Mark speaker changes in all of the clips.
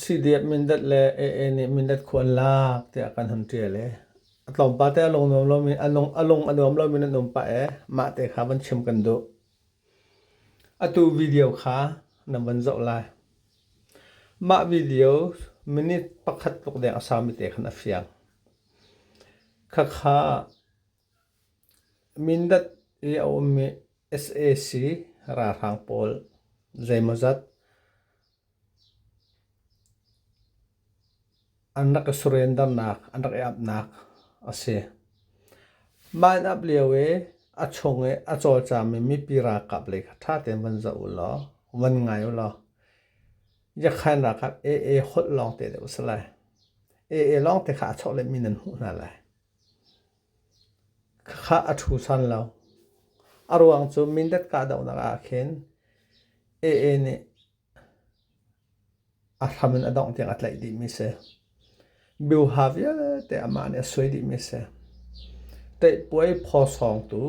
Speaker 1: Sidiat mindat le ee nih mindat khu an lak tiah kan hun ṭial i a tlawmpal te a lung nuam lomi a lung a nuam lomi nan um pah i mahte kha van chim kan duh. Atu video kha nan van zoh lai. Mah video minute pakhat tluk deng a saumi te khan a fiang. Khakha Mindat i a ummi sac ralhrang pawl zeimawzat an rak i surrendernak an rak i amhnak a si. Mah in amh lio i a chung i a cawlcangmi mipi ralkap lei kha ṭha tein van zoh u law van ngai u law Yakhain ralkap AA holh lawngte deuh a si lai. AA lawngte kha a chawhlehmi nan hmuh hna lai. Khah a ṭhu san lo. A ruang cu Mindat kahdohnak ahkhin AA nih a hram in a dongh tiang a tlaih dihmi si. Biuha vialte amah nih a suai dihmi si. Teihpuai phawsawngtu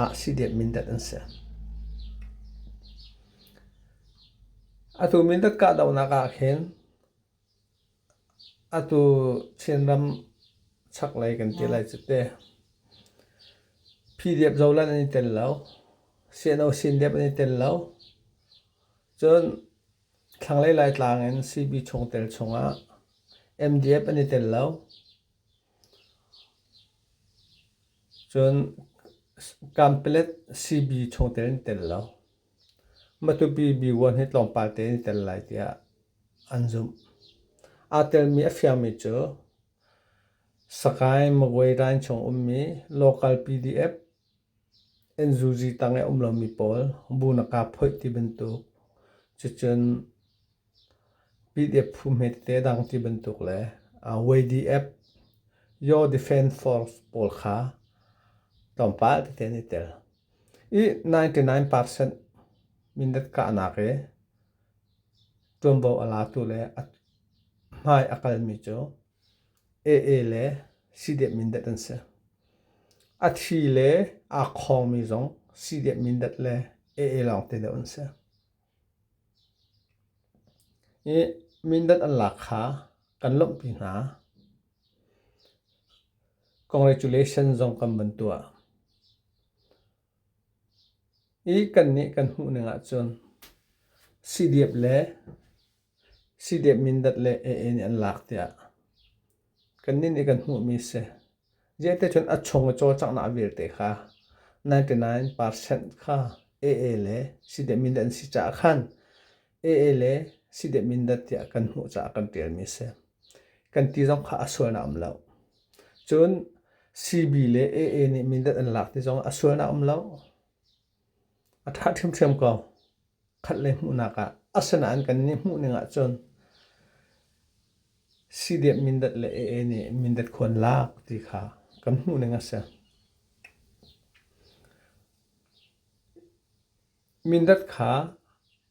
Speaker 1: ah CDF Mindat an si. Atu Mindat kahdohnak ahkhin Atu Chinram chaklei kan ti lai cu te. PDF zolan an i tel lo. Sino sindep an i tel lo. Cun thlanglei Laitlang in CB chungtel chungah MDF an i tel lo. Cun Kanpelet CB chungtel an i tel lo. Matupi B1 hi tlawmpal tein i tel lai tiah an zumh. Aa telmi a fiangmi cu Sakae Magway Line chung ummi local PDF NZUZ tang i a um lomi pawl bu na kaa phoih ti bantuk, cucun PDF phu hme tete a dang ti bantuk le YDF Your Defence Force pawl kha tlawmpal tein i tel. I ninety nine percent minute kahnak i ṭuanvo a latu le a hmai a kalmi cu AA le CDF mindat an si. A thi le aa khawngmi zong CDF mindat le AA lawng te deuh an si. I mindat an lak kha kan lawmhpi hna. Congratulations zong kan van tuah. I kannih kan hmuhning ahcun siidep le siidep mindat le ee nih an lak tiah kannih nih kan hmuhmi a si. Ziate cun a chung i cawlcanghnak vialte kha ninety nine percent kha ee le siidep mindat an si caah khan ee le sideh Mindat tiah kan hmuh caah kan ṭialmi a si. Kan ti zong kha a sualnak um lo. Cun CB le AA nih Mindat an lak ti zong a sualnak um lo. A ṭha ṭhiamṭhiam ko. Khat le hmuhnak ah. Asinain kan nih hmuhning ahcun sideh Mindat le AA nih Mindat khua an lak ti kha kan hmuhning a si. Mindat kha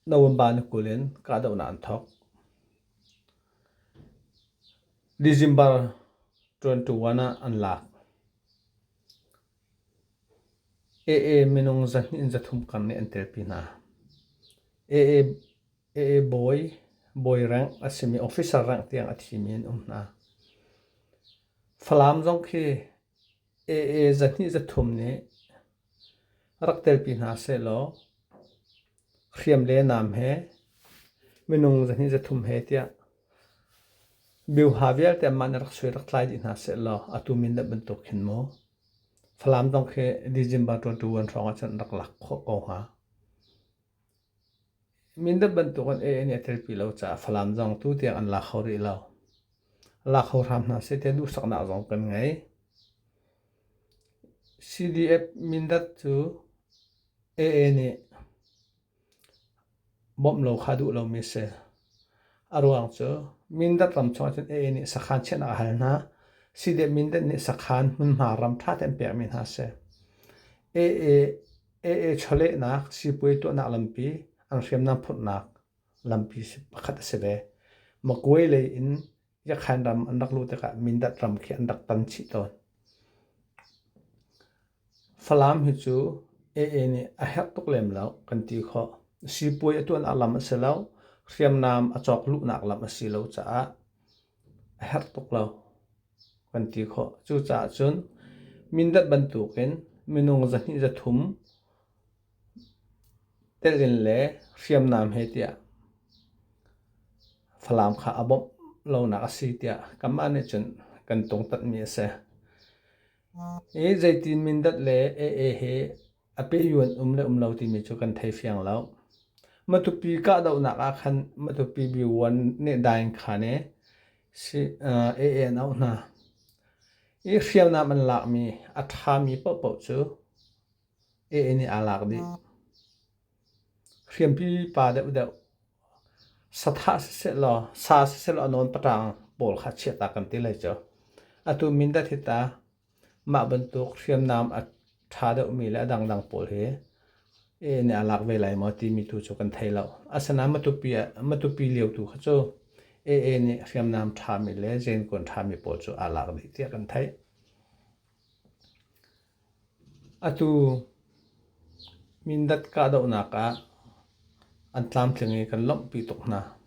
Speaker 1: November ni kul in kahdohnak an thawk. December 21 ah an lak. AA minung zahnih in zathum kar nih an telpi hna. AA, AA bawi, bawi rank a simi officer rank tiang a thimi an um hna. Falam zong khi AA zahnih zathum nih Rak telpi hna sehlaw hriam le nam he minung zahnih zathum he tiah biuha vialte mah nih rak suai rak tlai dih hna sehlaw atu mindat bantuk khin maw Falam zong khi December 21 hrawng ahcun rak lak khawh ko hnga. Mindat bantukin A an i a telpi lo caah Falam zong tutiang an la kho rih lo. La kho hram hna seh tiah duhsaknak zong kan ngei. CDF Mindat cu AA nih bawmh lo kha duh lomi a si. A ruang cu Mindat ram chungah cun AA nih sakhan chiahnak a hal hna. CDF Mindat nih sakhan hmunhma ram ṭha tein pekmi hna a si. AA AA chawlehnak siipuai tuahnak lampi an hriamnam phurhnak lampi pakhat a si ve. Magway lei in Yakhan ram an rak luh tikah Mindat ram khi an rak tan chih tawn. Falam hi cu AA nih a herh tuk lem lo kan ti khawh. Siipuai a tuahnak lam a si lo, hriamnam a cawk luhnak lam a si lo caah a herh tuk lo kan ti khawh. Cucaah cun mindat bantukin minung zahnih zathum telin le hriamnam he tiah Falam kha a bawmh lonak a si tiah kanmah nih cun kan tungtanhmi a si. I zeitin mindat le AA he a pehyu an um le um lo timi cu kan thei fiang lo. Matupi kahdohnak ah khan Matupi B1 nih dain khan e si AA an auh hna. I hriamnam an lakmi a ṭhami paohpaoh cu AA nih aa lak dih. Hriampi pa deuhdeuh sathah siseh law sa siseh law nawn paṭang pawl kha chiahta kan ti lai cu. Atu Mindat hi ta Mah bantuk hriamnam a ṭha deuhmi le a dangdang pawl hi nih a lak ve lai maw timi tu cu kan thei lo. Asinain matupi ah matupi lio tu kha cu AA nih hriamnam ṭhami le zenkuan ṭhami pawl cu aa lak dih tiah kan theih. Atu Mindat kahdohnak ah an tlamtling i kan lawmhpi tuk hna.